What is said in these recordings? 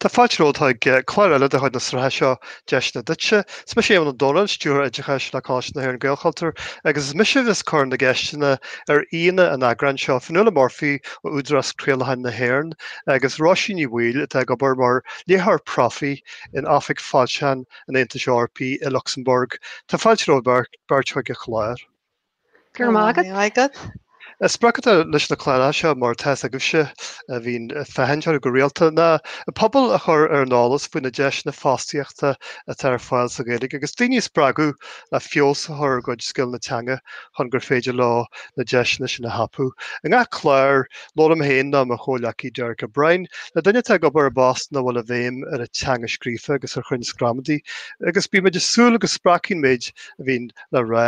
Tá fáilte romhaibh chuig clár eile de chuid na sraithe seo Deiseanna Duitse. Is mise Éamonn Ó Dónaill, Stiúrthóir Oideachais le Coláiste na hÉireann Gaelchultúr, agus is mise a bheas ag cur na gceisteanna ar aíonna an eagráin seo, Fionnuala Murphy ó Údarás Craolacháin na hÉireann agus Róisín Ní Bhaoill atá ag obair mar Léitheoir Profaí in Oifig Foilseachán an Aontais Eorpaigh i Lucsamburg. Tá fáilte romhaibh beirt chuig an chlár. Go raibh maith agat. An sprioc atá leis na cláracha seo mar atá a fhios agaibhse a bhíonn ag féachaint orthu go rialta, ná an pobal a chur ar an eolas faoi na deiseanna fostaíochta atá ar fáil sa Ghaeilge agus daoine a spreagadh le feabhas a chur ar a gcuid scileanna teanga chun gur féidir leo na deiseanna sin a thapú. I ngach clár, labhraím féin nó mo chomhghleacaí Derek O'Brien le duine atá ag obair i bpost ina bhfuil an bhéim ar an teanga scríofa agus ar chruinneas gramadaí agus bímid ag súil go spreagfaidh an méid a bhíonn le rá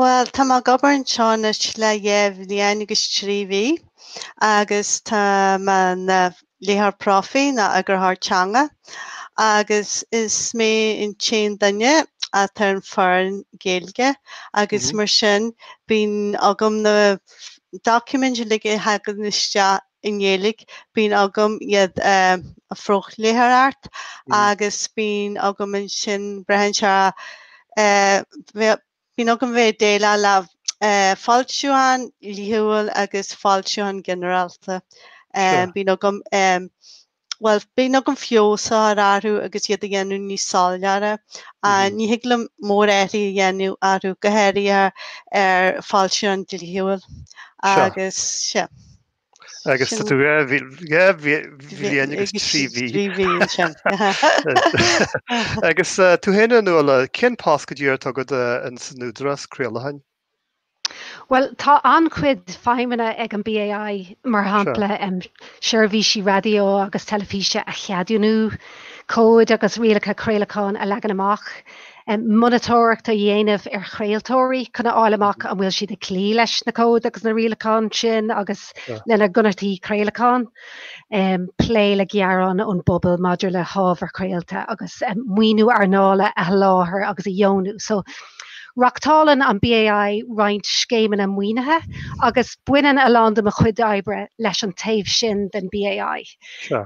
Bhuel, tá mé ag obair anseo anois le dhá bhliain agus trí mhí agus tá mé ina léitheoir profaí nó eagarthóir teanga agus is mé an t-aon duine atá ar an foireann Ghaeilge agus mar sin bíonn agam na doiciméid uilig a thagann isteach i nGaeilge, bíonn agam iad a phrofléitheoireacht agus bíonn agam ansin, braitheann sé, bíonn agam a bheith ag déileáil le foilseacháin dhlíthiúil agus foilseacháin ghinearálta. Bíonn agam bhuel, bíonn agam feabhas a chur orthu agus iad a dhéanamh níos soiléire. Ní thig liom mórathruithe a dhéanamh orthu, go háirithe ar foilseacháin dhlíthiúil agus sea. Agus tá tú dhá bhliain agus trí mhí. Trí mhí ansin. Agus tú féin a Fhionnuala, cén post go díreach atá agat ins an Údarás Craolacháin? Bhuel tá an-chuid feidhmeanna ag an BAI, mar shampla seirbhísí raidió agus teilifíse a cheadúnú, cóid agus rialacha craolacháin a leagan amach, monatóireacht a dhéanamh ar chraoltóirí chun a fháil amach an bhfuil siad ag cloí leis na cóid agus na rialacháin sin agus lena gconarthaí craolacháin. plé le gearáin ón bpobal maidir le hábhar craolta agus maoiniú earnála a sholáthar agus a dheonú. So reachtálann an BAI roinnt scéimeanna maoinithe agus baineann a lán de mo chuid oibre leis an taobh sin den BAI. Sure.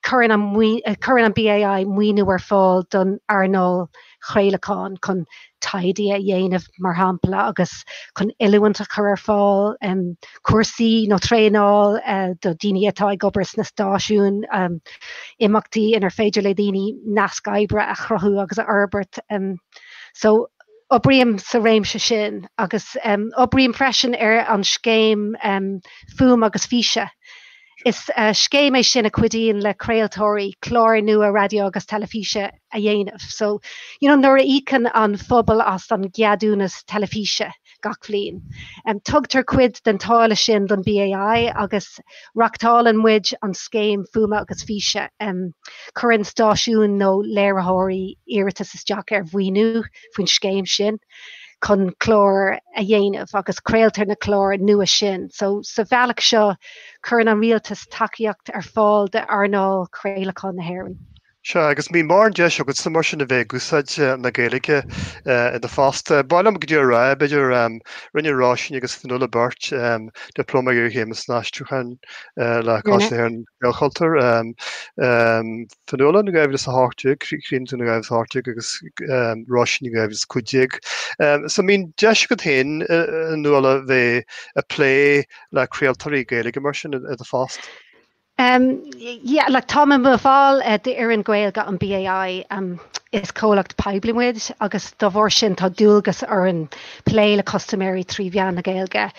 Cuireann an BAI maoiniú ar fáil don earnáil chraolacháin chun taighde a dhéanamh mar shampla agus chun oiliúint a chur ar fáil, cúrsaí nó traenáil do dhaoine atá ag obair sna stáisiúin, imeachtaí inar féidir le daoine naisc oibre a chruthú agus a fhorbairt. So oibrím sa réimse sin agus oibrím freisin ar an scéim Fuaime agus Físe. Is scéim é sin a chuidíonn le craoltóirí cláir nua raidió agus teilifíse a a dhéanamh. So, you know, nuair a íocann an phobal as an gceadúnas teilifíse gach bhliain, tugtar cuid den táille sin don BAI agus reachtálann muid an scéim Fuaime agus Físe. Cuireann stáisiúin nó léiritheoirí iarratas isteach ar mhaoiniú faoin scéim sin chun cláir a dhéanamh agus craoltar na cláir nua sin. So, sa bhealach seo, cuireann an rialtas tacaíocht ar fáil d'earnáil chraolacháin na hÉireann. Sea, agus mbíonn mórán deis agatsa mar sin a bheith ag úsáid na Gaeilge i do phost. Ba cheart dom díreach a rá, b'fhéidir, rinne Róisín agus Fionnuala beirt Dioplóma Iarchéime san Aistriúchán le Coláiste na hÉireann, Gaelchultúr. Fionnuala in 2018, Nuala in 2018 agus Róisín in 2015. So mbíonn deis agat féin, a Nuala, bheith ag plé le craoltóirí Gaeilge mar sin i do phost? Yeah, like táim i mo bhall d'fhoireann Gaeilge an BAI. Is comhlacht poiblí muid agus dá bharr sin tá dualgas orainn plé le custaiméirí trí mheán na Gaeilge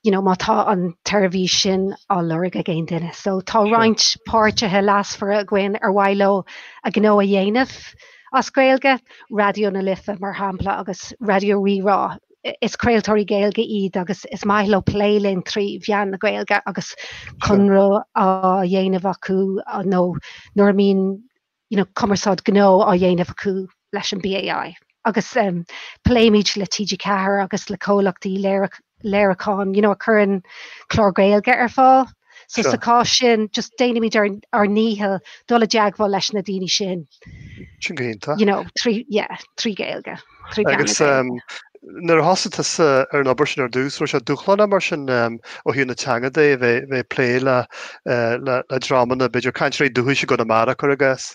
you know, má tá an tseirbhís sin á lorg ag aon duine. So tá roinnt páirtithe leasmhara againn ar mhaith leo a ngnó a dhéanamh as Gaeilge, Raidió na Life mar shampla agus Raidió Rí-Rá. Is craoltóirí Gaeilge iad agus is maith leo plé linn trí mheán na Gaeilge agus conradh á dhéanamh acu nó nuair a mbíonn, you know, cumarsáid gnó á dhéanamh acu leis an BAI. Agus pléimid le TG4 agus le comhlachtaí léiriúcháin, you know, a chuireann cláir Gaeilge ar fáil. So Sure. sa cás sin, just déanaimid ar, ar ndícheall dul i dteagmháil leis na daoine sin, Sin go hiontach. you know, trí, yeah, trí Gaeilge, trí mheán na Agus Gaeilge. um, nuair a thosaigh tú sa- ar an obair sin ar dús, raibh sé dúshlánach mar sin um, ó thaobh na teanga de bheith bheith plé le, eh, le, le drámanna, b'fhéidir cainteoirí dúchais i gConamara, cur i gcás.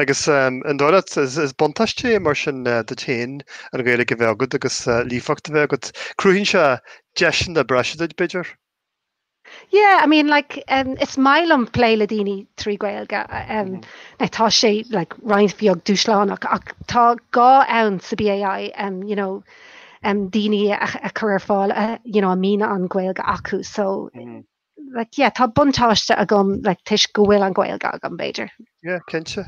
Agus an dóigh leat, is buntáiste é mar sin duit féin an Ghaeilge a bheith agat agus líofacht a bheith agat. Cruthaíonn sé deiseanna breise duit, b'fhéidir? Yeah, I mean like umm is maith liom plé le daoine trí Ghaeilge umm like tá sé like roinnt bheag dúshlánach ach tá gá ann sa BAI umm you know umm daoine a chur ar fáil a you know a mbíonn an Ghaeilge acu so like, yeah, tá buntáiste agam like, toisc go bhfuil an Ghaeilge agam, b'fhéidir. Yeah, cinnte.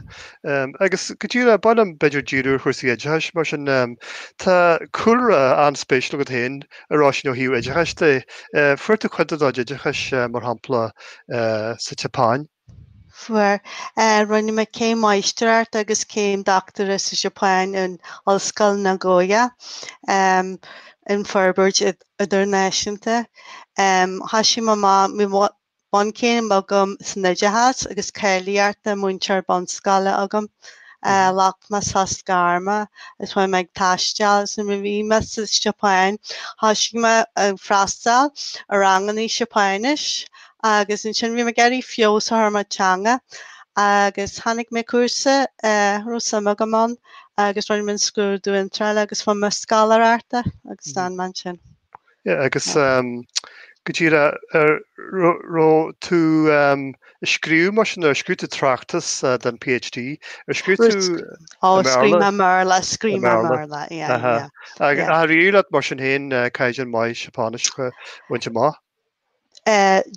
Um, agus go díreach ba mhaith liom b'fhéidir díriú ar chúrsaí oideachais, mar sin um, tá cúlra an-spéisiúil agat féin, a Róisín, ó thaobh oideachais de. Uh, Fuair tú cuid de do oideachais, uh, mar shampla, uh, sa tSeapáin. Fuair Rinne mé céim Máistreachta agus céim Dochtúra sa Seapáin in Ollscoil Nagoya um in Forbairt Idirnáisiúnta. Tá sé mo bhunchéim agam san Oideachas agus cáilíocht múinteoir bunscoile agam. Ghlac mé sos gairme agus bhí mé ag taisteal agus nuair a bhí mé sa Seapáin thoisigh mé ag freastal ar ranganna Seapáinis agus ansin bhí mé ag iarraidh feabhas a chur ar mo theanga agus tháinig mé ar chúrsa a raibh suim agam ann agus rinne mé an scrúdú iontrála agus fuair mé scoláireacht agus d'fhan mé ansin. Yeah, agus um, go díreach, an raibh, raibh tú um, ag scríobh mar sin, ar scríobh tú tráchtas uh, den PhD, ar scríobh tú Ó, scríobh mé i mBéarla, scríobh mé i mBéarla, yeah, Aha. yeah. Yeah. Ach d'éirigh leat mar sin héin uh, caighdeán maith Seapáinis a bhaint amach.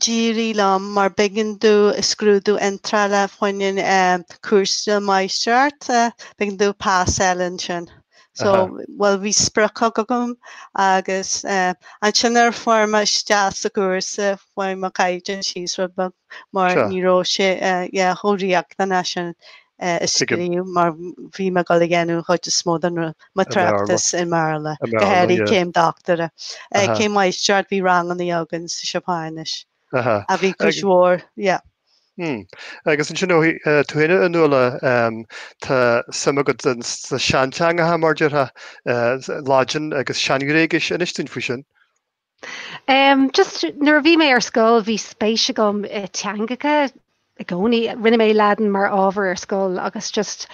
d'éirigh liom mar b'éigean domh scrúdú iontrála fá choinne an cúrsa Máistreachta b'éigean domh pas a fháil ansin so bhuel bhí sprioc agam agus ansin nuair a fuair mé isteach sa gcúrsa chuaigh mo caighdeán síos rud beag. mar Sure. ní raibh sé eh, yeah, chomh riachtanach sin eh, a Tuigim. scríobh mar bhí mé ag dul a dhéanamh chuid is mó den ru- mo An Bhéarla. tráchtas i mBéarla. An Bhéarla, yeah. Go háirithe céim dochtúra. Eh, Aha. Céim mháistreachta bhí ranganna againn sa Seapáinis Aha. a bhí Ag- cúis mhór, yeah. Hmm. Agus ansin ó uh, tú héine a Nuala um, tá suim agat sna seanteangacha mar a déarfá uh, Laidin agus Sean-Ghréigis inis duinn faoi sin. Umm just nuair a bhí mé ar scoil bhí spéis agam i teangacha i gcónaí. Rinne mé Laidin mar ábhar ar scoil agus just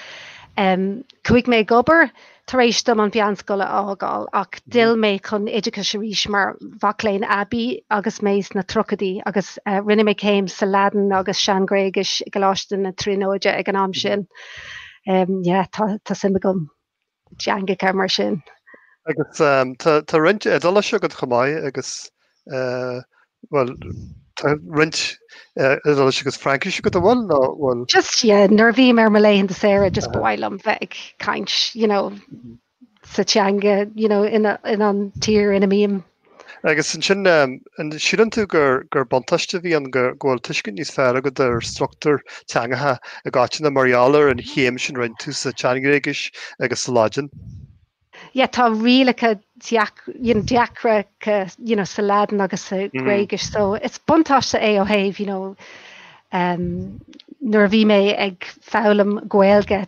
umm chuaigh mé ag obair tar éis dom an mheánscoil a fhágáil ach d'fhill mé chun oideachais arís mar mhac léinn aibí agus mé sna tríochaidí agus eh rinne mé céim sa Laidin agus Sean-Ghréigis i gColáiste na Tríonóide ag an am sin. Umm yeah tá tá suim agam. dteangacha mar sin. Agus tá roinnt Iodáilis agat chomh maith agus, bhuel, tá roinnt Iodáilis agus Fraincis agat, an bhfuil, nó bhuel? Just, yeah, nuair a bhím ar mo laethanta saora just ba mhaith liom bheith ag caint, you know, sa teanga, you know, in an tír ina mbím. Agus ansin, an síleann tú gur buntáiste a bhí ann go bhfuil tuiscint níos fearr agat ar struchtúr teangacha i gcoitinne mar gheall ar an chéim sin a rinne tú sa tSean-Ghréigis agus sa Laidin. Yeah, tá rialacha deacra sa Laidin agus sa Ghréigis, so is buntáiste é ó thaobh, you know, nuair a bhí mé ag foghlaim Gaeilge,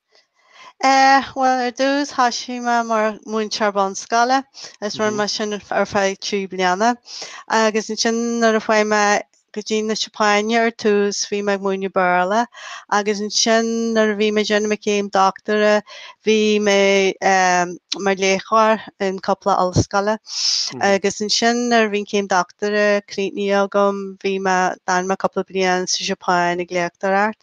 Eh, bhuel, ar dtús thosaigh mé mar mhúinteoir bunscoile agus rinne mé sin ar feadh trí bliana. Agus ansin nuair a chuaigh mé go dtí na Seapáine ar tús bhí mé ag múineadh Béarla agus ansin nuair a bhí mé ag déanamh mo chéim dochtúra bhí mé mar léachtóir in cúpla ollscoile. Agus ansin nuair a bhí an céim dochtúra críochnaithe agam bhí mé, d'fhan mé cúpla bliain sa Seapáin ag léachtóireacht.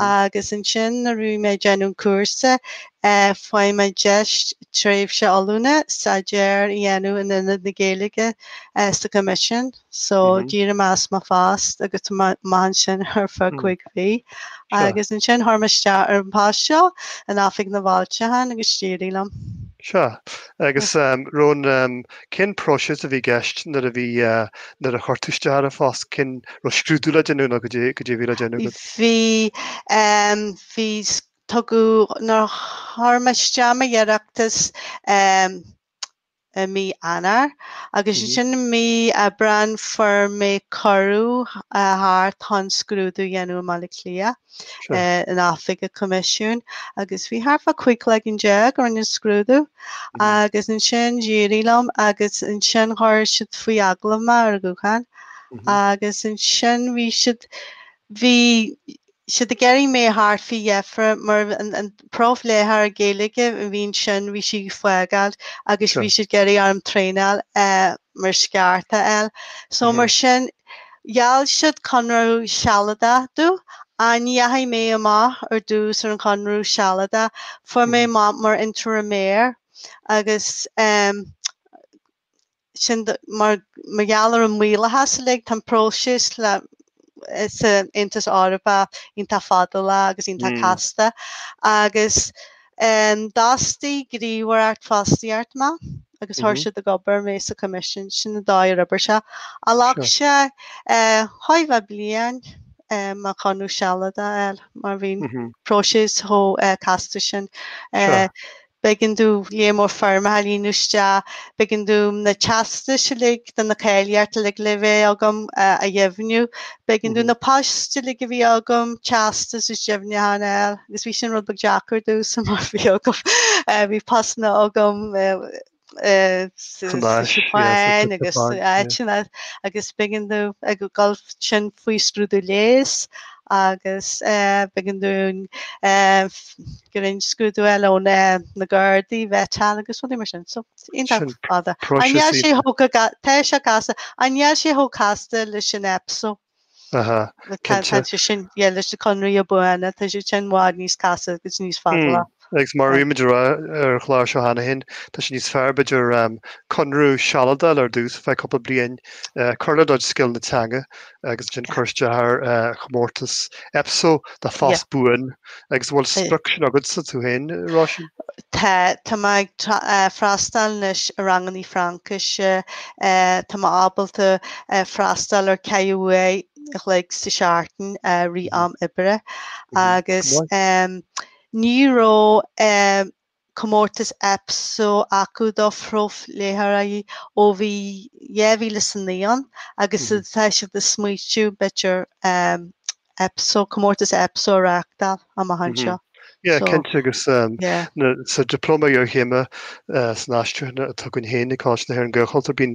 agus ansin nuair a bhí mé ag déanamh cúrsa fuair mé deis tréimhse oiliúna stagiaire a dhéanamh in Aonad na Gaeilge sa Choimisiún. So d'éirigh mé as mo phost agus chuaigh mé amach ansin ar feadh cúig mhí. Agus ansin chuir mé isteach ar an post seo in Oifig na bhFoilseachán agus d'éirigh liom. Sea. Agus raibh an Cén próiseas a bhí i gceist nuair a bhí, nuair a chuir tú isteach ar an phost, an raibh scrúdú le déanamh nó cad é a bhí le déanamh agat? Bhí, bhí, tugadh, nuair a chuir mé isteach m'iarratas i mí Eanáir agus ansin i mí Aibreáin fuair mé cuireadh a theacht chun scrúdú a dhéanamh i mBaile Átha Cliath. in oifig an Choimisiúin agus bhí thart fá chúig chloigeann déag a rinne an scrúdú agus ansin d'éirigh liom agus ansin chuir siad faoi agallamh mé ar an ghuthán agus ansin bhí siad bhí siad ag iarraidh mé a theacht faoi dheifre mar an profléitheoir Gaeilge a bhí ansin bhí sí ag fágáilt agus bhí siad ag iarraidh orm traenáil mar is ceart a fháil so mar sin gheall siad conradh sealadach domh ach ní dheachaigh mé amach ar dtús ar an chonradh sealadach chuaigh mé amach mar intérimaire agus sin mar gheall ar an maorlathas uilig. Tá an próiseas san Aontas Eorpach iontach fadálach agus iontach casta agus d'fhostaigh gníomhaireacht fostaíochta mé agus chuir siad ag obair mé sa Choimisiún. Sin an dóigh ar oibrigh sé. Ghlac sé chóir a bheith bliain mo chonradh sealadach a fháil mar bhí an próiseas chomh casta sin. B'éigean domh lear mór foirmeacha a líonadh isteach. B'éigean domh na teastais uilig do na cáilíochtaí uilig le bheith agam a dheimhniú. B'éigean domh na poist uilig a bhí agam, teastais is deimhniúcháin a fháil, agus bhí sin rud beag deacair domhsa, mar bhí agam, bhí postanna agam, Japan agus áiteanna agus b'éigean domh ag gabháil ansin faoi scrúdú leighis agus b'éigean domh go raibh scrúdú eile ó na Gardaí vetting agus rudaí mar sin. So iontach fada. An mbeadh sé chomh tá sé casta. An mbeadh sé chomh casta leis an Epso? Tá sé sin fíor leis na conraí buana, tá siad sin i bhfad níos casta agus níos fada. Agus mar a bhí muid ag rá ar an chlár seo cheana féin, tá sé níos fearr b'fhéidir conradh sealadach a fháil ar dtús, ar feadh cúpla bliain, cur le do scileanna teanga agus ansin cur isteach ar chomórtas EPSO, do phost buan, agus bhfuil an sprioc sin agatsa tú féin, Róisín? Tá, tá mé ag freastáil anois ar rangannaí Fraincise, tá mé ábalta freastáil ar ceithre huair a chloig sa tseachtain i rith am oibre agus ní raibh comórtas Epso acu do phrofléitheoirí ó bhí 2009 ann agus tá siad ag smaoitiú b'fhéidir Epso, comórtas Epso a reachtáil amach anseo. Yeah, cinnte agus um, sa dioplóma iarchéime uh, san aistriúchán atá againn féin i gColáiste na hÉireann Gaelchultúr bíonn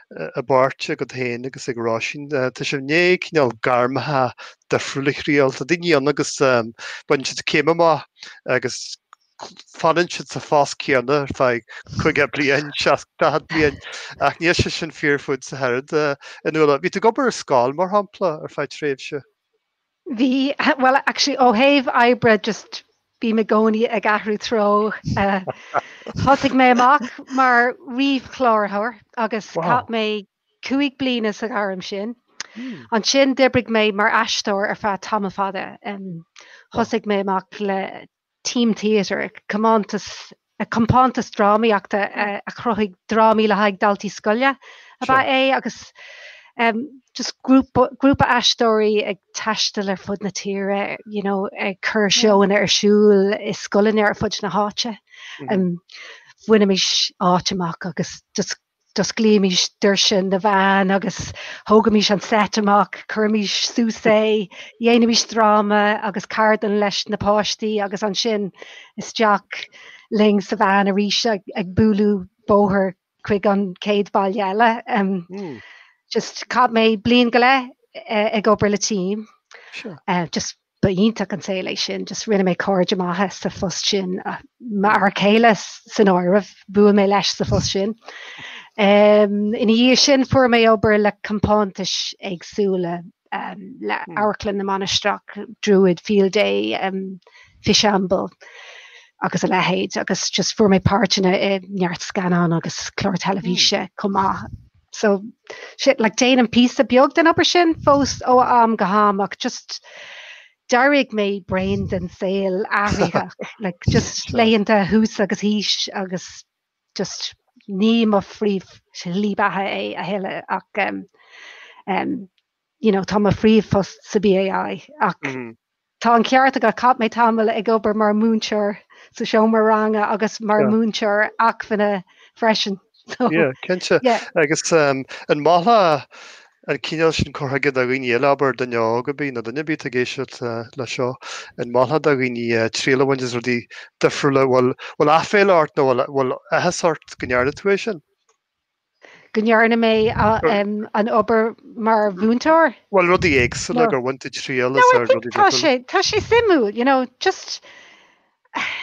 i bpáirt agat féin agus ag Róisín. Tá sibh i ndiaidh cineál gairmeacha difriúil a thriail. Tá daoine ann agus baineann siad céim amach agus fanann siad sa phost céanna ar feadh 30 bliain, 40 bliain ach níl sé sin fíor fútsa ach oiread, a Fhionnuala, bhí tú ag obair ar scoil mar shampla ar feadh tréimhse. Bhí, bhuel actually ó thaobh oibre just bím i gcónaí ag athrú treo. Thosaigh mé amach mar ríomhchláraitheoir agus chaith mé cúig bliana sa ghairm sin. Ansin d'oibrigh mé mar aisteoir ar feadh tamall fada. Thosaigh mé amach le Team Theatre, comántas compántas drámaíochta a chruthaigh drámaí le haghaidh daltaí scoile ab ea é agus just gr grúpa aisteoirí ag taisteal ar fud na tíre, you know, ag cur seóanna ar siúl i scoileanna ar fud na háite. Bhainimis áit amach agus just D'osclaímís doirse na veain agus thógaimís an seit amach, chuirimis suas é, dhéanaimís dráma agus ceardlann leis na páistí agus ansin isteach linn sa veain arís ag bualadh bóthair chuig an chéad bhaile eile. Just chaith mé bliain go leith ag obair le Team. Sure. Just Ba iontach an saol é sin, just rinne mé cairde maithe sa phost sin, m'fhear céile san áireamh, bhuail mé leis sa phost sin. Ina dhiaidh sin fuair mé obair le compántais éagsúla, le Amharclann na Mainistreach, Druid, Field Day, Fishamble agus a leithéid, agus just fuair mé páirteanna i neart scannán agus clár teilifíse chomh maith. so just like déanaim píosa beag den obair sin fós ó am go ham ach just d'éirigh mé bréan den saol athraitheach like just laethanta thuas agus thíos agus just ní mo phríomhshlí bheatha é a thuilleadh ach um, um, you know, tá mo phríomhphost sa BAI ach mm. Tá an ceart agat, chaith mé tamall ag obair mar mhúinteoir sa seomra ranga agus mar Yeah. mhúinteoir acmhainne freisin. So, Yeah, cinnte. Yeah. Agus um, an molfá an cineál sin cur chuige do dhaoine eile, abair, duine óg ar bith nó duine ar bith atá ag éisteacht uh, le seo, an molfá do dhaoine uh, triail a bhaint as rudaí difriúla, bhfuil bhfuil aiféala ort nó bhfuil bhfuil áthas ort go ndearna tú é sin? go ndearna mé an obair mar mhúinteoir. Bhuel, rudaí éagsúla, gur bhain tú triail as rudaí difriúla. Tá sé, tá sé suimiúil, you know, just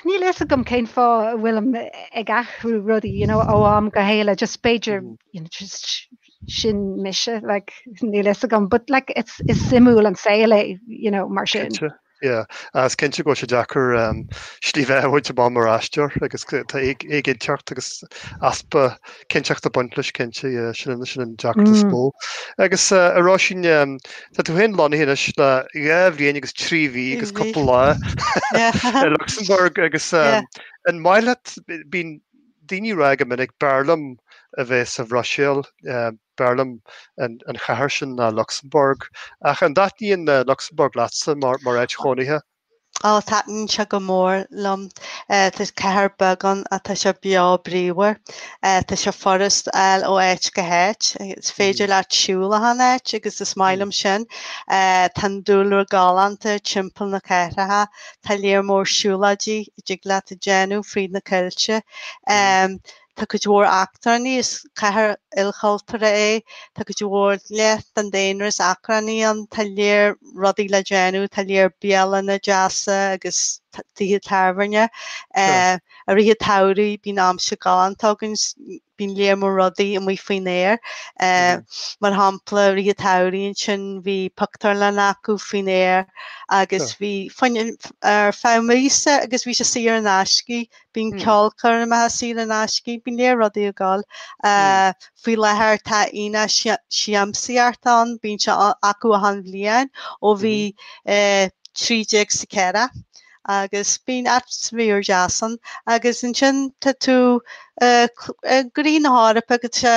níl a fhios agam cén fáth a bhfuilim ag athrú rudaí, you know, ó am go chéile, just b'fhéidir, you know, just sin mise, like, níl a fhios agam, but like, it's, is suimiúil an saol é, you know, mar sin. Cinnte, Yeah, is cinnte go bhfuil sé deacair slí bheatha a bhaint amach mar aisteoir agus tá éiginnteacht agus easpa cinnteachta ag baint leis cinnte sin sin an deacracht is mó. Agus ar ndóigh ansin tá tú féin lonnaithe anois le dhá bhliain agus trí mhí agus cúpla lá i Lucsamburg agus an maith leat bíonn daoine ag rá go minic b'fhearr liom a bheith sa Bhruiséil B'fhearr liom an chathair sin ná Lucsamburg. Ach an dtaitníonn Lucsamburg leatsa mar áit chónaithe? Ó, taitníonn sé go mór liom. Tá cathair bheag ann ach tá sé beo bríomhar. Tá sé furast fáil ó áit go háit. Is féidir leat siúl achan áit agus is maith liom sin. Tá an dúlra galánta timpeall na cathrach. Tá léar mór siúlóidí a dtig leat a dhéanamh fríd na coillte. Tá cuid mhór eachtránaigh, is cathair ilchultúrtha é, tá cuid mhór, leath den daonra is eachtránaigh ann, tá léar rudaí le déanamh, tá léar bialanna deasa agus tithe tábhairne. I rith an tsamhraidh bíonn aimsir galánta againn, bíonn léar mór rudaí amuigh faoin aer. Mar shampla, i rith an tsamhraidh ansin bhí pictiúrlann acu faoin aer agus bhí sin ar feadh míosa agus bhí sé saor in aisce Bíonn ceolchoirmeacha saor in aisce, bíonn léar rudaí ag gabháil. Faoi láthair tá aonach siamsaíochta ann, bíonn sé acu achan bhliain ó bhí 13 sa 4 agus bíonn atmaisféar deas ann. Agus ansin tá tú i gcroí na hEorpa agus tá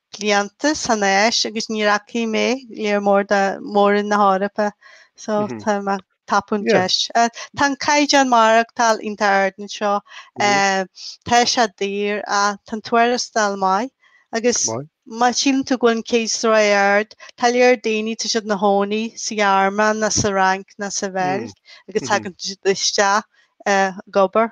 blianta san Áis agus níor fhaca mé léar mór de Mhór-Roinn na hEorpa so tá mé ag tapú an deis. Tá an caighdeán maireachtáil iontach ard anseo, tá sé daor ach tá an tuarastal maith agus má síleann tú go bhfuil an cíos ró-ard, tá léar daoine, tá siad ina chónaí sa Ghearmáin ná sa Fhrainc ná sa Bheilg agus tagann siad isteach ag obair.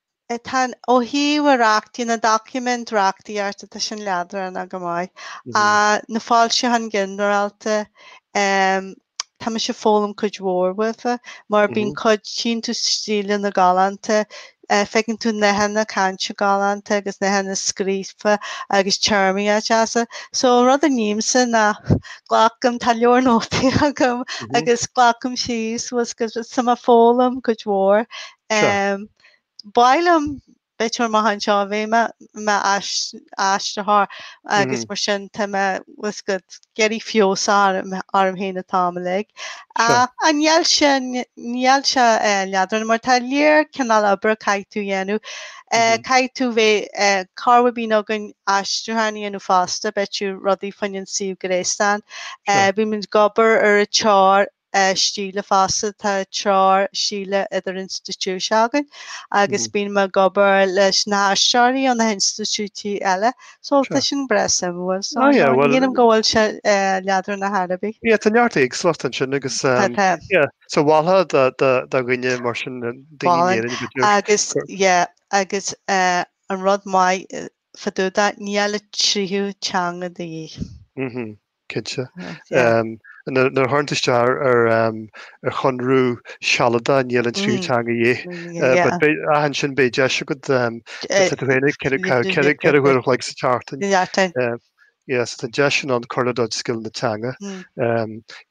Tá ó thaobh a reachtaí na doiciméid reachtaíochta, tá sin leadránach go maith, ach na foilseacháin ghinearálta, tá mise ag foghlaim cuid mhór uathu mar bíonn cuid iontu stíleanna galánta, feiceann tú nathanna cainte galánta agus nathanna scríofa agus téarmaí deasa. So an rud a nímse ná glacaim, tá leabhar nótaí agam agus glacaim síos, bhfuil a fhios agat, so tá mé ag foghlaim cuid mhór Sea. Ehm ba mhaith liom bheith or maith anseo a bheith i mo mo ais- aistritheoir agus mar sin tá mé bhfuil a fhios agat ag iarraidh feabhas a chur orm féin an t-am uilig. A Sea. a níl sé n- níl sé eh, leadránach mar tá léar cineál oibre caithfidh tú dhéanamh. Eh Mhm. caithfidh tú bheith eh corruair bíonn againn aistriúchán a dhéanamh fosta b'fhéidir rudaí faoin an suíomh gréasáin. Sea. Eh bímid ag obair ar an treoir stíle fosta. Tá treoir stíle idirinstitiúideach againn agus bíonn mé ag obair leis na haistritheoirí ó na hinstitiúidí eile. So tá sin breá suimiúil. So ní dhéanaim go bhfuil sé leadránach ar chor ar bith. Yeah, tá neart éagsúlacht ansin agus yeah, so mholfá do dhuine mar sin, daoine in Éirinn a bhfuil agus yeah, agus an rud maith fá dtaobh de, níl an tríú teanga de dhíth. Cinnte. Nuair a thagann tú isteach ar chonradh sealadach níl an tríú teanga de dhíth, ach ansin beidh deis agat tú féin ag ceithre uair an chloig sa tseachtain. Yes, tá an deis sin ann cur le do scileanna teanga.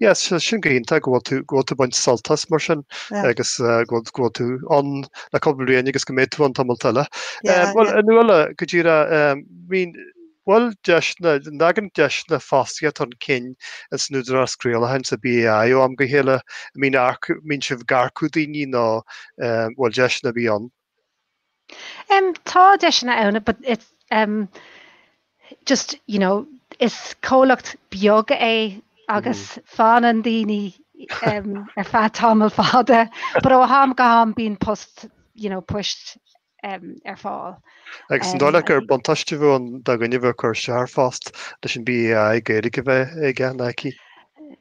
Yes, sin go hiontach go bhfuil tú ag baint sult as mar sin agus go bhfuil tú ann le cúpla bliain agus go mbeidh tú ann tamall eile. Bhuel, a Nuala, go dtí a raibh, Bhfuil deiseanna, an dtagann deiseanna fostaíochta chun cinn insan Údarás Craolacháin, sa BAI, ó am go chéile. An mbíonn earcú, mbíonn sibh ag earcú daoine nó em bhfuil deiseanna ar bith ann? Em tá deiseanna ann but it's em just you know is comhlacht beag é agus fanann daoine em ar feadh tamall fada but ó ham go ham bíonn post you know poist ar fáil. Agus an dóigh leat gur buntáiste a bheadh ann do dhuine a bheadh ag cur isteach ar phost leis an BAI Gaeilge a bheith aige nó aici?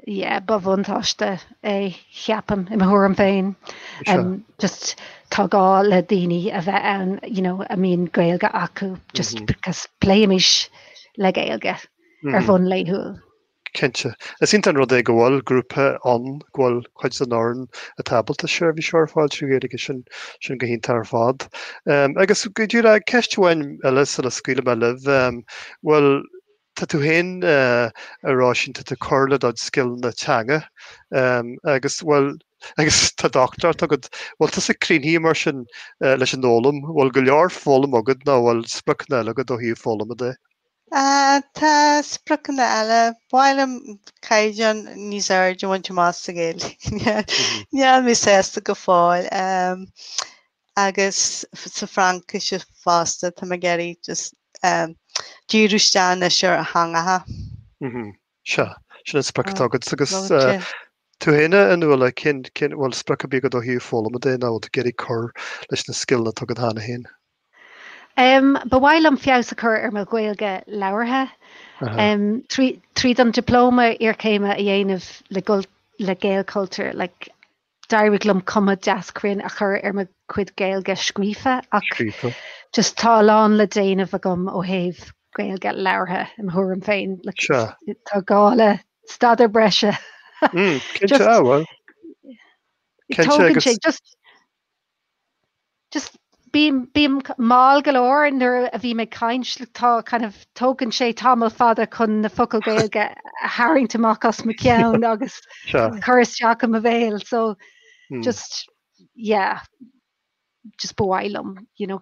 Yeah, ba bhuntáiste é, ceapaim, i mo thuairim féin. Just tá gá le daoine a bheith ann you know a mbíonn Gaeilge acu just because pléimid le Gaeilge ar bhonn laethúil. Cinnte. Is iontach an rud é go bhfuil grúpa ann, go bhfuil cuid den fhoireann atá ábalta seirbhís a chur ar fáil trí Ghaeilge, sin sin go hiontach ar fad. Agus go díreach ceist amháin eile sula scaoilfidh mé libh, bhuel, tá tú féin ag rá ansin, tá tú ag cur le do scileanna teanga agus, bhuel, agus tá dochtúireacht agat, bhfuil tusa críochnaithe mar sin leis an fhoghlaim, bhfuil go leor foghlamtha agat nó bhfuil spriocanna eile agat ó thaobh foghlama de? Tá spriocanna eile, ba mhaith liom caighdeán níos airde a bhaint amach sa Ghaeilge, níl mé sásta go fóill, agus sa Fhraincis fosta tá mé ag iarraidh just díriú isteach anois ar theangacha. Sea, sin an sprioc atá agat agus tú fhéin a Nuala, cén, cén, bhfuil sprioc ar bith agat ó thaobh foghlama de, nó rud éigin, ag iarraidh cur leis na scileanna atá agat cheana fhéin? Em, ba mhaith liom feabhas a chur ar mo Gaeilge labhartha. Aha. Em, trí, tríd an Dioplóma Iarchéime a dhéanamh le, le Gaelchultúr, like, d'éirigh liom cuma deas cruinn a chur ar mo chuid Gaeilge scríofa ach just tá a lán le déanamh agam ó thaobh Gaeilge labhartha i mo thuairim féin. Tá gá le staidear breise. Mm, cinnte, ah, well. Tógann sé... just bím bím mall go leor nuair a bhím ag caint like tá kind of tógann sé tamall fada chun na focail Gaeilge a tharraingt amach as mo cheann agus cur isteach i mo bhéal so just yeah just ba mhaith liom you know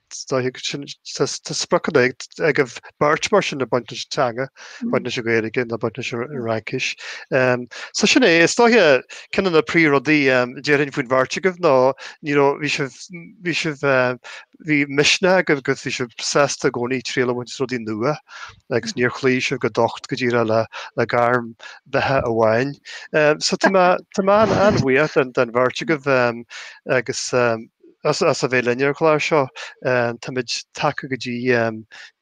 Tá spriocanna agaibh beirt mar sin a bhaineas le teanga, baint leis an Ghaeilge nó baint leis an Fhraincis. So sin é, is dóiche, ceann de na príomhrudaí a déarfainn faoin bheirt agaibh ná ní raibh, bhí sibh, bhí misneach agaibh agus bhí sibh sásta i gcónaí triail a bhaint as rudaí nua agus níor chloígh sibh go docht go díreach le gairm beatha amháin. So tá mé an-bhuíoch den bheirt agaibh agus. As a bheith linn ar an gclár seo, táimid tagtha go dtí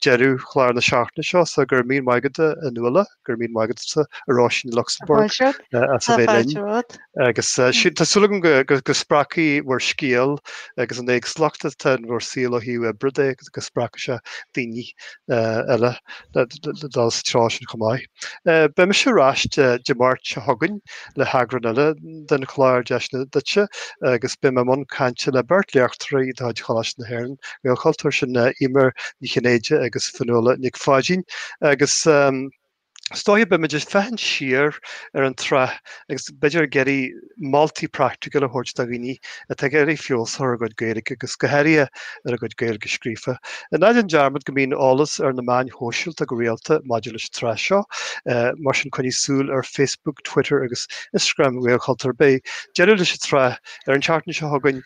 deireadh chláir na seachtaine seo, so go raibh míle maith agat a Nuala, go raibh míle maith agat tusa a Róisín i Lucsamburg as a bheith linn, agus tá súil agam go spreagfaidh bhur scéal agus an éagsúlacht atá in bhur saol ó thaobh oibre de. agus go spreagfaidh sé daoine eile le dul sa treo sin chomh maith. Beidh mise ar ais Dé Máirt seo chugainn le heagrán eile den chlár Deiseanna Duitse agus beidh mé i mbun cainte le beirt léachtóir de chuid Choláiste na hÉireann, Gaelchultúr, sin Eimear Ní Chinnéide agus Fionnuala Nic Pháidín agus Is dóiche beimid ag féachaint siar ar an tsraith agus b'fhéidir ag iarraidh moltaí praiticiúla a thabhairt do dhaoine atá ag iarraidh feabhas a chur ar a gcuid Gaeilge agus go háirithe ar a gcuid Gaeilge scríofa. Ná déan dearmad go mbíonn eolas ar na meáin shóisialta go rialta maidir leis an tsraith seo, mar sin coinnigh súil ar Facebook, Twitter agus Instagram Ghaelchultúr. Beidh deireadh leis an tsraith ar an tseachtain seo chugainn.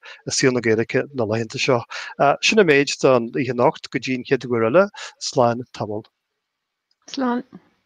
i saol na Gaeilge na laethanta seo. Sin an méid don oíche anocht go dtí an chéad uair eile, slán tamall. Slán.